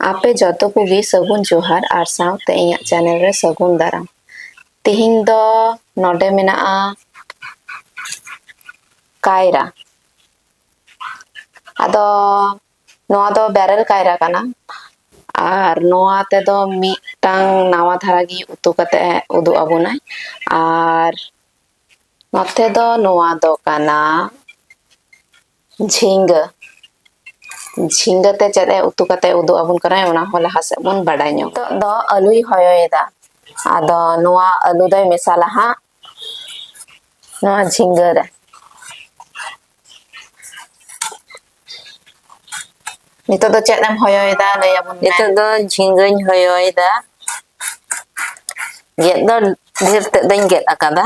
ᱟᱯᱮ ᱡᱚᱛᱚ ᱠᱚᱜᱮ ᱥᱟᱹᱜᱩᱱ ᱡᱚᱦᱟᱨ ᱟᱨ ᱥᱟᱶᱛᱮ ᱤᱧᱟᱹᱜ ᱪᱮᱱᱮᱞ ᱨᱮ ᱥᱟᱹᱜᱩᱱ ᱫᱟᱨᱟᱢ ᱛᱮᱦᱮᱧ ᱫᱚ ᱱᱚᱰᱮ ᱢᱮᱱᱟᱜᱼᱟ ᱠᱟᱭᱨᱟ ᱟᱫᱚ ᱱᱚᱣᱟ ᱫᱚ ᱵᱮᱨᱮᱞ ᱠᱟᱭᱨᱟ ᱠᱟᱱᱟ ᱟᱨ ᱱᱚᱣᱟ ᱛᱮᱫᱚ ᱢᱤᱫᱴᱟᱝ ᱱᱟᱣᱟ ᱫᱷᱟᱨᱟ ᱜᱮ ᱩᱛᱩ ᱠᱟᱛᱮ ᱩᱫᱩᱜ ᱟᱵᱚᱱᱟᱭ ᱟᱨ ᱱᱚᱛᱮ ᱫᱚ ᱱᱚᱣᱟ ᱫᱚ ᱠᱟᱱᱟ ᱡᱷᱤᱸᱜᱟᱹ ᱡᱷᱤᱸᱜᱟᱹ ᱛᱮ ᱪᱮᱫ ᱮ ᱩᱛᱩ ᱠᱟᱛᱮ ᱩᱫᱩᱜ ᱟᱵᱚᱱ ᱠᱟᱱᱟᱭ ᱚᱱᱟ ᱦᱚᱸ ᱞᱟᱦᱟ ᱥᱮᱫ ᱵᱚᱱ ᱵᱟᱰᱟᱭ ᱧᱚᱜ ᱱᱤᱛᱚᱜ ᱫᱚ ᱟᱹᱞᱩᱭ ᱦᱚᱭᱚᱭᱮᱫᱟ ᱟᱫᱚ ᱱᱚᱣᱟ ᱟᱹᱞᱩ ᱫᱚᱭ ᱢᱮᱥᱟᱞᱟ ᱦᱟᱸᱜ ᱱᱚᱣᱟ ᱡᱷᱤᱸᱜᱟᱹ ᱨᱮ ᱱᱤᱛᱚᱜ ᱫᱚ ᱪᱮᱫ ᱮᱢ ᱦᱚᱭᱚᱭᱮᱫᱟ ᱞᱟᱹᱭ ᱟᱵᱚᱱ ᱢᱮ ᱱᱤᱛᱚᱜ ᱫᱚ ᱡᱷᱤᱸᱜᱟᱹᱧ ᱦᱚᱭᱚᱭᱮᱫᱟ ᱜᱮᱫ ᱫᱚ ᱰᱷᱮᱨ ᱛᱮᱫ ᱫᱚᱧ ᱜᱮᱫ ᱟᱠᱟᱫᱟ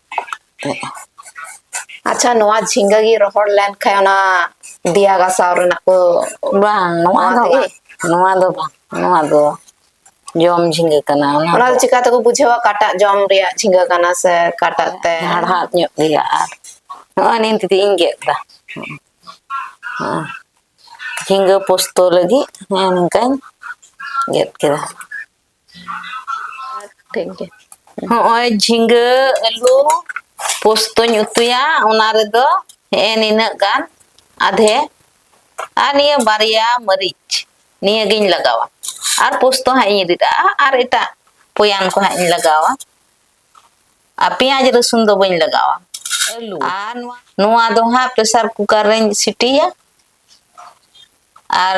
ᱟᱪᱪᱷᱟ ᱱᱚᱣᱟ ᱡᱷᱤᱸᱜᱟᱹ ᱜᱮ ᱨᱚᱦᱚᱲ ᱞᱮᱱᱠᱷᱟᱱ ᱚᱱᱟ ᱫᱮᱭᱟ ᱜᱟᱥᱟᱣ ᱨᱮᱱᱟᱜ ᱠᱚ ᱵᱟᱝ ᱱᱚᱣᱟ ᱫᱚ ᱵᱟᱝ ᱱᱚᱣᱟ ᱫᱚ ᱵᱟᱝ ᱱᱚᱣᱟ ᱫᱚ ᱡᱚᱢ ᱡᱷᱤᱸᱜᱟᱹ ᱠᱟᱱᱟ ᱚᱱᱟ ᱫᱚ ᱪᱤᱠᱟ ᱛᱮᱠᱚ ᱵᱩᱡᱷᱟᱹᱣᱟ ᱠᱟᱴᱟᱜ ᱡᱚᱢ ᱨᱮᱭᱟᱜ ᱡᱷᱤᱸᱜᱟᱹ ᱠᱟᱱᱟ ᱥᱮ ᱠᱟᱴᱟᱜ ᱛᱮ ᱦᱟᱲᱦᱟᱫ ᱧᱚᱜ ᱜᱮᱭᱟ ᱟᱨ ᱱᱚᱜᱼᱚᱭ ᱱᱤᱭᱟᱹ ᱛᱮᱫᱚ ᱤᱧ ᱜᱮᱫ ᱮᱫᱟ ᱡᱷᱤᱸᱜᱟᱹ ᱯᱳᱥᱛᱳ ᱞᱟᱹᱜᱤᱫ ᱱᱚᱝᱠᱟᱧ ᱜᱮᱫ ᱠᱮᱫᱟ ᱦᱚᱸᱜᱼᱚᱭ ᱡᱷᱤᱸᱜᱟᱹ ᱟᱹᱞᱩ ᱯᱳᱥᱛᱚᱧ ᱩᱛᱩᱭᱟ ᱚᱱᱟ ᱨᱮᱫᱚ ᱦᱮᱸ ᱱᱤᱱᱟᱹᱜ ᱜᱟᱱ ᱟᱫᱷᱮ ᱟᱨ ᱱᱤᱭᱟᱹ ᱵᱟᱨᱭᱟ ᱢᱟᱹᱨᱤᱪ ᱱᱤᱭᱟᱹᱜᱤᱧ ᱞᱟᱜᱟᱣᱟ ᱟᱨ ᱯᱳᱥᱛᱚ ᱦᱟᱸᱜ ᱤᱧ ᱨᱤᱫᱟ ᱟᱨ ᱮᱴᱟᱜ ᱯᱚᱭᱟᱱ ᱠᱚ ᱦᱟᱸᱜ ᱤᱧ ᱞᱟᱜᱟᱣᱟ ᱟᱨ ᱯᱮᱸᱭᱟᱡᱽ ᱨᱟᱹᱥᱩᱱ ᱫᱚ ᱵᱟᱹᱧ ᱞᱟᱜᱟᱣᱟ ᱟᱹᱞᱩ ᱟᱨ ᱱᱚᱣᱟ ᱫᱚ ᱦᱟᱸᱜ ᱯᱨᱮᱥᱟᱨ ᱠᱩᱠᱟᱨ ᱨᱮᱧ ᱥᱤᱴᱤᱭᱟ ᱟᱨ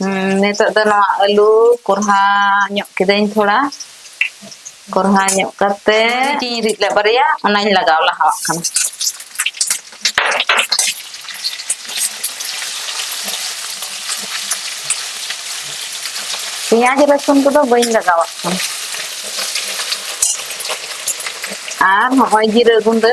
ᱦᱮᱸ ᱱᱤᱛᱚᱜ ᱫᱚ ᱱᱚᱣᱟ ᱟᱹᱞᱩ ᱠᱚᱨᱦᱟ ᱧᱚᱜ ᱠᱤᱫᱟᱹᱧ ᱛᱷᱚᱲᱟ ᱠᱚᱨᱦᱟ ᱧᱚᱜ ᱠᱟᱛᱮ ᱢᱟᱹᱨᱤᱪ ᱤᱧ ᱨᱤᱫ ᱞᱮᱫ ᱵᱟᱨᱭᱟ ᱚᱱᱟᱧ ᱞᱟᱜᱟᱣ ᱞᱟᱦᱟᱣᱟᱜ ᱠᱟᱱᱟ ᱯᱮᱸᱭᱟᱡᱽ ᱨᱟᱹᱥᱩᱱ ᱠᱚᱫᱚ ᱵᱟᱹᱧ ᱞᱟᱜᱟᱣᱟᱜ ᱠᱟᱱᱟ ᱟᱨ ᱱᱚᱜᱼᱚᱭ ᱡᱤᱨᱟᱹ ᱜᱩᱰᱟᱹ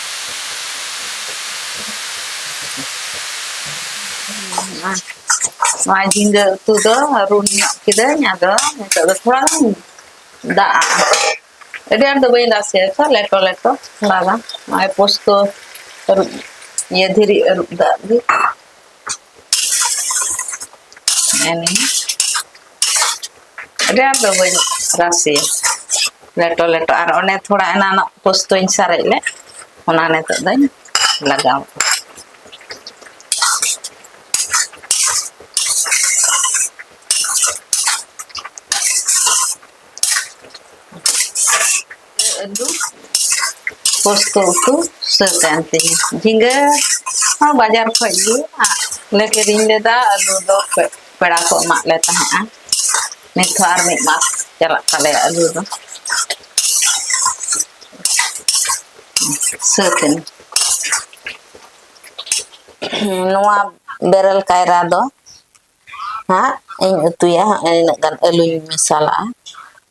ᱱᱚᱣᱟ ᱡᱷᱤᱸᱜᱟᱹ ᱩᱛᱩ ᱫᱚ ᱨᱩᱱ ᱧᱚᱜ ᱠᱤᱫᱟᱹᱧ ᱟᱫᱚ ᱱᱤᱛᱚᱜ ᱫᱚ ᱛᱷᱚᱲᱟ ᱜᱟᱱ ᱫᱟᱜ ᱟᱹᱰᱤ ᱟᱸᱴ ᱫᱚ ᱵᱟᱹᱧ ᱨᱟᱥᱮᱭᱟ ᱛᱚ ᱞᱮᱴᱚ ᱞᱮᱴᱚ ᱛᱷᱚᱲᱟ ᱜᱟᱱ ᱱᱚᱜᱼᱚᱭ ᱯᱳᱥᱛᱚ ᱟᱹᱨᱩᱵ ᱤᱭᱟᱹ ᱫᱷᱤᱨᱤ ᱟᱹᱨᱩᱵ ᱫᱟᱜ ᱜᱮ ᱟᱹᱰᱤ ᱟᱸᱴ ᱫᱚ ᱵᱟᱹᱧ ᱨᱟᱥᱮᱭᱟ ᱞᱮᱴᱚ ᱞᱮᱴᱚ ᱟᱨ ᱚᱱᱮ ᱛᱷᱚᱲᱟ ᱮᱱᱟᱱᱚᱜ ᱯᱳᱥᱛᱚᱧ ᱥᱟᱨᱮᱡ ᱞᱮᱫ ᱚᱱᱟ ᱱᱤᱛᱚᱜ ᱫᱚᱧ ᱞᱟᱜᱟᱣ ᱟᱹᱞᱩ ᱯᱚᱥᱛᱚ ᱩᱛᱩ ᱥᱟᱹᱛ ᱮᱱ ᱛᱤᱧ ᱡᱷᱤᱸᱜᱟᱹ ᱦᱚᱸ ᱵᱟᱡᱟᱨ ᱠᱷᱚᱡ ᱜᱮ ᱞᱮ ᱠᱤᱨᱤᱧ ᱞᱮᱫᱟ ᱟᱹᱞᱩ ᱫᱚ ᱯᱮᱲᱟ ᱠᱚ ᱮᱢᱟᱜ ᱞᱮ ᱛᱟᱦᱮᱸᱜᱼᱟ ᱱᱤᱛ ᱦᱚᱸ ᱟᱨ ᱢᱤᱫ ᱢᱟᱥ ᱪᱟᱞᱟᱜ ᱛᱟᱞᱮᱭᱟ ᱟᱹᱞᱩ ᱫᱚ ᱥᱟᱹᱛ ᱮᱱ ᱱᱚᱣᱟ ᱵᱮᱨᱮᱞ ᱠᱟᱭᱨᱟ ᱫᱚ ᱦᱟᱸᱜ ᱤᱧ ᱩᱛᱩᱭᱟ ᱤᱱᱟᱹᱜ ᱜᱟᱱ ᱟᱹᱞᱩᱧ ᱢᱮᱥᱟᱞᱟᱜᱼᱟ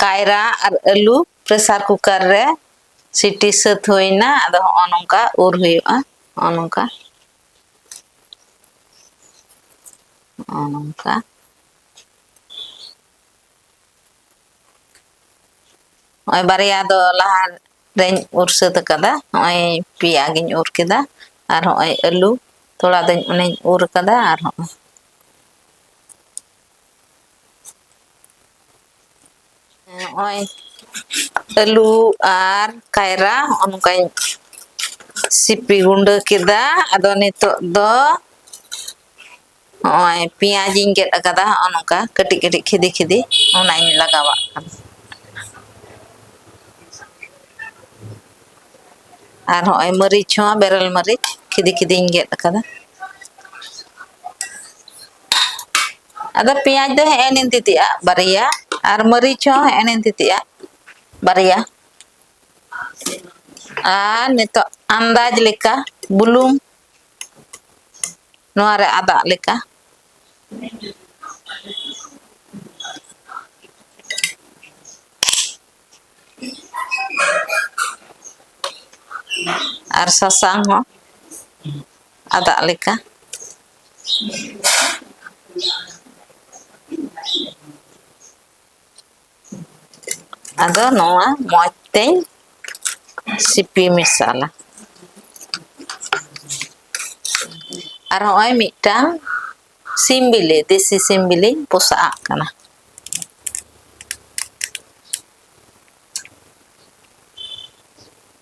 ᱠᱟᱭᱨᱟ ᱟᱨ ᱟᱹᱞᱩ ᱯᱨᱮᱥᱟᱨ ᱠᱩᱠᱟᱨ ᱨᱮ ᱥᱤᱴᱤ ᱥᱟᱹᱛ ᱦᱩᱭ ᱮᱱᱟ ᱟᱫᱚ ᱦᱚᱸᱜᱼᱚ ᱱᱚᱝᱠᱟ ᱩᱨ ᱦᱩᱭᱩᱜᱼᱟ ᱦᱚᱸᱜᱼᱚ ᱱᱚᱝᱠᱟ ᱦᱚᱸᱜᱼᱚ ᱱᱚᱝᱠᱟ ᱱᱚᱜᱼᱚᱭ ᱵᱟᱨᱭᱟ ᱫᱚ ᱞᱟᱦᱟ ᱨᱮᱧ ᱩᱨ ᱥᱟᱹᱛ ᱟᱠᱟᱫᱟ ᱱᱚᱜᱼᱚᱭ ᱯᱮᱭᱟ ᱜᱤᱧ ᱩᱨ ᱠᱮᱫᱟ ᱟᱨ ᱦᱚᱸᱜᱼᱚᱭ ᱟᱹᱞᱩ ᱛᱷᱚᱲᱟ ᱫᱚᱧ ᱚᱱᱮᱧ ᱩᱨ ᱟᱠᱟᱫᱟ ᱟᱨ ᱦᱚᱸᱜᱼᱚᱭ ᱱᱚᱜᱼᱚᱭ ᱟᱹᱞᱩ ᱟᱨ ᱠᱟᱭᱨᱟ ᱱᱚᱜᱼᱚ ᱱᱚᱝᱠᱟᱧ ᱥᱤᱯᱤ ᱜᱩᱸᱰᱟᱹ ᱠᱮᱫᱟ ᱟᱫᱚ ᱱᱤᱛᱚᱜ ᱫᱚ ᱱᱚᱜᱼᱚᱭ ᱯᱮᱸᱭᱟᱡᱽ ᱤᱧ ᱜᱮᱫ ᱟᱠᱟᱫᱟ ᱱᱚᱜᱼᱚ ᱱᱚᱝᱠᱟ ᱠᱟᱹᱴᱤᱡ ᱠᱟᱹᱴᱤᱡ ᱠᱷᱤᱫᱤ ᱠᱷᱤᱫᱤ ᱚᱱᱟᱧ ᱞᱟᱜᱟᱣᱟᱜ ᱠᱟᱱᱟ ᱟᱨ ᱦᱚᱸᱜᱼᱚᱭ ᱢᱟᱹᱨᱤᱪ ᱦᱚᱸ ᱵᱮᱨᱮᱞ ᱢᱟᱹᱨᱤᱪ ᱠᱷᱤᱫᱤ ᱠᱷᱤᱫᱤᱧ ᱜᱮᱫ ᱟᱠᱟᱫᱟ ᱟᱫᱚ ᱯᱮᱸᱭᱟᱡᱽ ᱫᱚ ᱦᱮᱸ ᱱᱤᱱ ᱛᱤᱛᱤᱜᱼᱟ ᱵᱟᱨᱭᱟ ᱟᱨ ᱢᱟᱹᱨᱤᱪ ᱦᱚᱸ ᱦᱮᱸ ᱱᱤᱱ ᱛᱤᱛᱤᱜᱼᱟ ᱵᱟᱨᱭᱟ ᱟᱨ ᱱᱤᱛᱚᱜ ᱟᱱᱫᱟᱡᱽ ᱞᱮᱠᱟ ᱵᱩᱞᱩᱝ ᱱᱚᱣᱟ ᱨᱮ ᱟᱫᱟᱜ ᱞᱮᱠᱟ ᱟᱨ ᱥᱟᱥᱟᱝ ᱦᱚᱸ ᱟᱫᱟᱜ ᱞᱮᱠᱟ ᱟᱫᱚ ᱱᱚᱣᱟ ᱢᱚᱡᱽ ᱛᱮᱧ ᱥᱤᱯᱤ ᱢᱮᱥᱟᱞᱟ ᱟᱨ ᱦᱚᱸᱜᱼᱚᱭ ᱢᱤᱫᱴᱟᱝ ᱥᱤᱢ ᱵᱤᱞᱤ ᱫᱮᱥᱤ ᱥᱤᱢ ᱵᱤᱞᱤᱧ ᱯᱚᱥᱟᱜ ᱠᱟᱱᱟ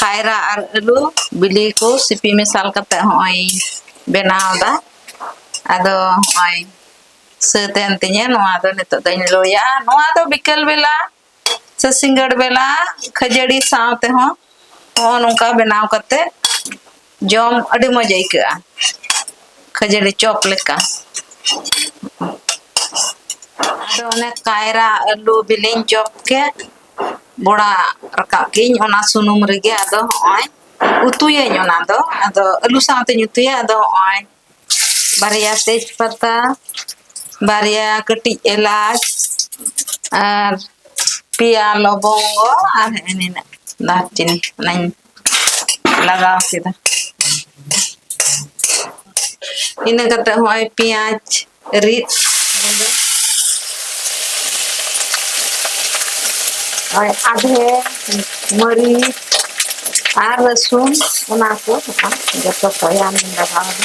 ᱠᱟᱭᱨᱟ ᱟᱨ ᱟᱹᱞᱩ ᱵᱤᱞᱤ ᱠᱚ ᱥᱤᱯᱤ ᱢᱮᱥᱟᱞ ᱠᱟᱛᱮ ᱦᱚᱸᱜᱼᱚᱭ ᱵᱮᱱᱟᱣ ᱫᱟ ᱟᱫᱚ ᱦᱚᱸᱜᱼᱚᱭ ᱥᱟᱹᱛ ᱮᱱ ᱛᱤᱧᱟᱹ ᱱᱚᱣᱟ ᱫᱚ ᱱᱤᱛᱚᱜ ᱫᱚᱧ ᱞᱳᱭᱟ ᱱᱚᱣᱟ ᱫᱚ ᱵᱤᱠᱮᱞ ᱵᱮᱞᱟ ᱥᱮ ᱥᱤᱸᱜᱟᱹᱲ ᱵᱮᱞᱟ ᱠᱷᱟᱹᱡᱟᱹᱲᱤ ᱥᱟᱶ ᱛᱮᱦᱚᱸ ᱦᱚᱸ ᱱᱚᱝᱠᱟ ᱵᱮᱱᱟᱣ ᱠᱟᱛᱮ ᱡᱚᱢ ᱟᱹᱰᱤ ᱢᱚᱡᱽ ᱟᱹᱭᱠᱟᱹᱜᱼᱟ ᱠᱷᱟᱹᱡᱟᱹᱲᱤ ᱪᱚᱯ ᱞᱮᱠᱟ ᱟᱫᱚ ᱚᱱᱮ ᱠᱟᱭᱨᱟ ᱟᱹᱞᱩ ᱵᱤᱞᱤᱧ ᱪᱚᱯ ᱠᱮᱫ ᱵᱚᱲᱟ ᱨᱟᱠᱟᱵ ᱠᱮᱫᱟᱹᱧ ᱚᱱᱟ ᱥᱩᱱᱩᱢ ᱨᱮᱜᱮ ᱟᱫᱚ ᱦᱚᱸᱜᱼᱚᱭ ᱩᱛᱩᱭᱟᱹᱧ ᱚᱱᱟ ᱫᱚ ᱟᱫᱚ ᱟᱹᱞᱩ ᱥᱟᱶᱛᱮᱧ ᱩᱛᱩᱭᱟ ᱟᱫᱚ ᱦᱚᱸᱜᱼᱚᱭ ᱵᱟᱨᱭᱟ ᱛᱮᱡᱽ ᱯᱟᱛᱟ ᱵᱟᱨᱭᱟ ᱠᱟᱹᱴᱤᱡ ᱮᱞᱟᱪ ᱟᱨ ᱯᱮᱭᱟ ᱞᱚᱵᱚᱝᱜᱚ ᱟᱨ ᱦᱮᱸ ᱱᱤᱱᱟᱹᱜ ᱫᱟᱨᱪᱤᱱᱤ ᱚᱱᱟᱧ ᱞᱟᱜᱟᱣ ᱠᱮᱫᱟ ᱤᱱᱟᱹ ᱠᱟᱛᱮ ᱦᱚᱸᱜᱼᱚᱭ ᱯᱮᱸᱭᱟᱡᱽ ᱨᱤᱫ ᱜᱩᱸᱰᱟᱹ ᱳᱭ ᱟᱫᱷᱮ ᱢᱟᱹᱨᱤᱪ ᱟᱨ ᱨᱟᱹᱥᱩᱱ ᱚᱱᱟ ᱠᱚ ᱦᱚᱸ ᱡᱚᱛᱚ ᱠᱚᱭᱟᱢ ᱞᱟᱜᱟᱣ ᱫᱟ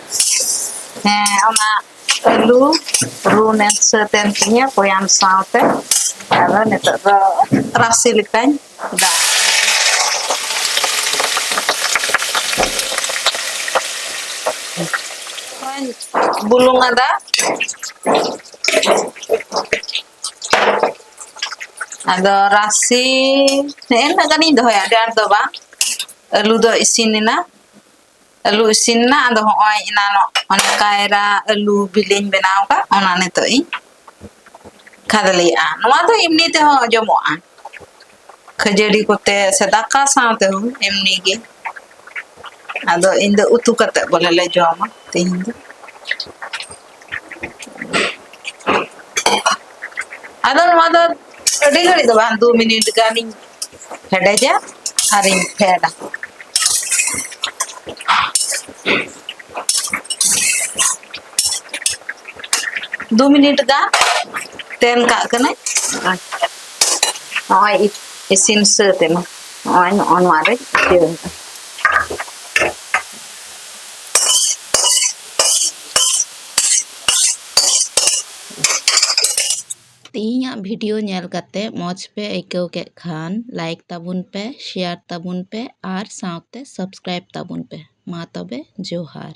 ᱦᱮᱸ ᱚᱱᱟ ᱟᱹᱞᱩ ᱨᱩ ᱢᱮᱥ ᱥᱟᱹᱛ ᱮᱱ ᱛᱤᱧᱟᱹ ᱵᱚᱭᱟᱢ ᱥᱟᱶᱛᱮ ᱟᱫᱚ ᱱᱤᱛᱚᱜ ᱫᱚ ᱨᱟᱥᱮ ᱞᱮᱠᱟᱧ ᱫᱟᱜ ᱵᱩᱞᱩᱝ ᱟᱫᱟ ᱟᱫᱚ ᱨᱟᱥᱮ ᱱᱮᱜᱼᱮ ᱱᱤᱱᱟᱹᱜ ᱜᱟᱱᱤᱧ ᱫᱚᱦᱚᱭᱟ ᱟᱹᱰᱤ ᱟᱸᱴ ᱫᱚ ᱵᱟᱝ ᱟᱹᱞᱩ ᱫᱚ ᱤᱥᱤᱱ ᱮᱱᱟ ᱟᱹᱞᱩ ᱤᱥᱤᱱ ᱮᱱᱟ ᱟᱫᱚ ᱦᱚᱸᱜᱼᱚᱭ ᱮᱱᱟᱱᱚᱜ ᱚᱱᱮ ᱠᱟᱭᱨᱟ ᱟᱹᱞᱩ ᱵᱤᱞᱤᱧ ᱵᱮᱱᱟᱣ ᱟᱠᱟᱫ ᱚᱱᱟ ᱱᱤᱛᱚᱜ ᱤᱧ ᱠᱷᱟᱫᱽᱞᱮᱭᱟᱜᱼᱟ ᱱᱚᱣᱟ ᱫᱚ ᱮᱢᱱᱤ ᱛᱮᱦᱚᱸ ᱡᱚᱢᱚᱜᱼᱟ ᱠᱷᱟᱹᱡᱟᱹᱲᱤ ᱠᱚᱛᱮ ᱥᱮ ᱫᱟᱠᱟ ᱥᱟᱶ ᱛᱮᱦᱚᱸ ᱮᱢᱱᱤ ᱜᱮ ᱟᱫᱚ ᱤᱧ ᱫᱚ ᱩᱛᱩ ᱠᱟᱛᱮ ᱵᱚᱞᱮ ᱞᱮ ᱡᱚᱢᱟ ᱛᱮᱦᱮᱧ ᱫᱚ ᱟᱫᱚ ᱱᱚᱣᱟ ᱫᱚ ᱟᱹᱰᱤ ᱜᱷᱟᱹᱲᱤᱡ ᱫᱚ ᱵᱟᱝ ᱫᱩ ᱢᱤᱱᱤᱴ ᱜᱟᱱᱤᱧ ᱦᱮᱰᱮᱡᱟ ᱟᱨᱤᱧ ᱯᱷᱮᱰᱟ ᱫᱩ ᱢᱤᱱᱤᱴ ᱜᱟᱱ ᱛᱮᱱ ᱠᱟᱜ ᱠᱟᱹᱱᱟᱹᱧ ᱱᱚᱜᱼᱚᱭ ᱤᱥᱤᱱ ᱥᱟᱹᱛ ᱮᱱᱟ ᱱᱚᱜᱼᱚᱭ ᱱᱚᱜᱼᱚ ᱱᱚᱣᱟ ᱨᱮ ᱤᱭᱟᱹ ᱛᱮᱦᱮᱧᱟᱜ ᱵᱷᱤᱰᱤᱭᱳ ᱧᱮᱞ ᱠᱟᱛᱮ ᱢᱚᱡᱽ ᱯᱮ ᱟᱹᱭᱠᱟᱹᱣ ᱠᱮᱫ ᱠᱷᱟᱱ ᱞᱟᱭᱤᱠ ᱛᱟᱵᱚᱱ ᱯᱮ ᱥᱮᱭᱟᱨ ᱛᱟᱵᱚᱱ ᱯᱮ ᱟᱨ ᱥᱟᱶᱛᱮ ᱥᱟᱵᱥᱠᱨᱟᱭᱤᱵᱽ ᱛᱟᱵᱚᱱ ᱯᱮ ᱢᱟ ᱛᱚᱵᱮ ᱡᱚᱦᱟᱨ